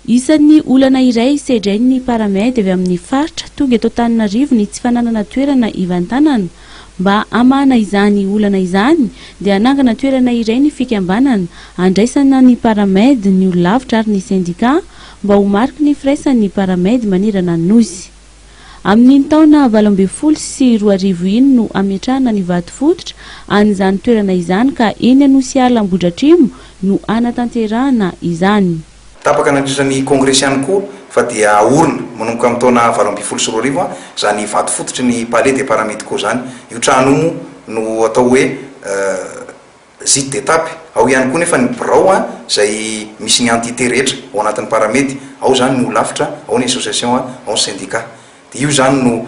Isan'ny olana iray sedrain'ny Paramed avy amin'ny faritra tonga eto Antananarivo ny tsy fananana toerana hivantanana. Mba hamahana izany olana izany dia hanangana toerana iray ny fikambanana handraisana ny Paramed, ny olon-lavitra ary ny sendikà mba ho mariky ny firaisan'ny Paramed manerana ny Nosy. Amin'iny taona valo ambin'ny folo sy roa arivo iny no ametrahana ny vato fototra an'izany toerana izany ka eny Anosiala Ambohidratrimo no hanatanterahana izany. Tapaka nandritra ny kongresy ihany koa fa dia aorina manomboka amin'ny taona valo ambin'ny folo sy roa arivo izany vato fototry ny Palais des Paramédicaux izany. Io trano io moa no atao hoe. Zid d'étape. Ao ihany koa nefa ny birao izay misy ny entité rehetra ao anatin'ny Paramed. Ao izany ny holafitra, ao ny association, ao ny syndicat. Dia io izany no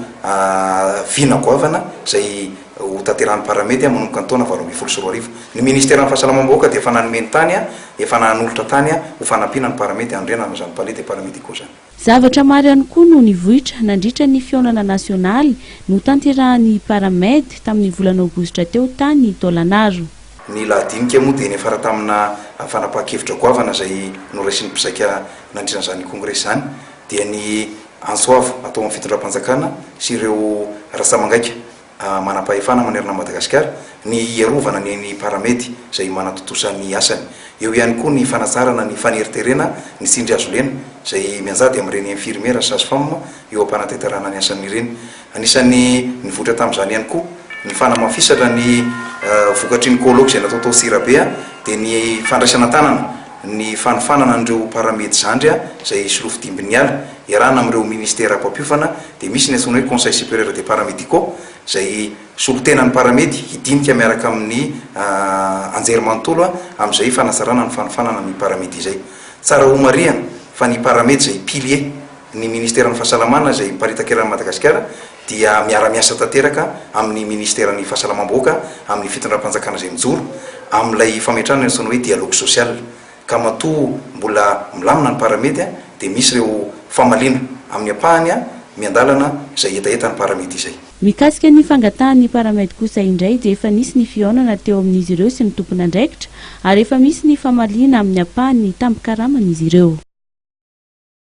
vina goavana izay hotanterahan'ny Paramed manomboka ny taona valo ambin'ny folo sy roa arivo. Ny ministeran'ny Fahasalamam-bahoaka dia efa nanome ny tany, efa nanolotra tany ho fanampiana ny Paramed hanorenana izany palais des paramédicaux izany. Zavatra maro ihany koa no nivoitra nandritra ny fihaonana nasionaly notanterahan'ny Paramed tamin'ny volana Aogositra teo tany Tôlanaro. Ny lahadinika moa dia niafara tamina fanapahan-kevitra goavana izay noraisin'ny mpizaika nandritra an'izany kongresy izany, dia ny antso avo atao amin'ny fitondram-panjakana sy ireo rantsamangaika. manam-pahefana manerana an'i Madagasikara, ny hiarovana ny eny Paramety izay manatontosa ny asany. Eo ihany koa ny fanatsarana ny faneriterena ny tsindrihazolena izay mianjady amin'ireny infirmiera sy sage-femme eo am-panatenterahana ny asany ireny. Anisan'ny nivoitra tamin'izany ihany koa ny fanamafisatra ny vokatry ny colloque izay natao tao Tsirabe dia ny fandraisana an-tanana ny fanofanana an'ireo Paramedy zandry izay solofo dimbin'ny ala iarahana amin'ireo minisitera mpampiofana dia misy ny antsoina hoe Conseil Supérieur des Paramédicaux izay solotenan'ny Paramedy hidinika miaraka amin'ny anjerimanontolo amin'izay fanatsarana ny fanofanana ny Paramedy izay. Tsara homarihana fa ny Paramedy izay pilier ny Ministeran'ny Fahasalamana izay miparitaka eran'i Madagasikara dia miara-miasa tanteraka amin'ny Ministeran'ny Fahasalamam-bahoaka amin'ny Fitondram-panjakana izay mijoro amin'ilay fametrahana ny antsoina hoe Dialogue Social ka matoa mbola milamina ny paramedy dia misy ireo famaliana amin'ny ampahany miandalana izay hetahetan'ny paramedy izay. Mikasika ny fangatahan'ny paramedy kosa indray dia efa nisy ny fihaonana teo amin'izy ireo sy ny tompon'andraikitra ary efa misy ny famaliana amin'ny ampahany ny tambin-karaman'izy ireo.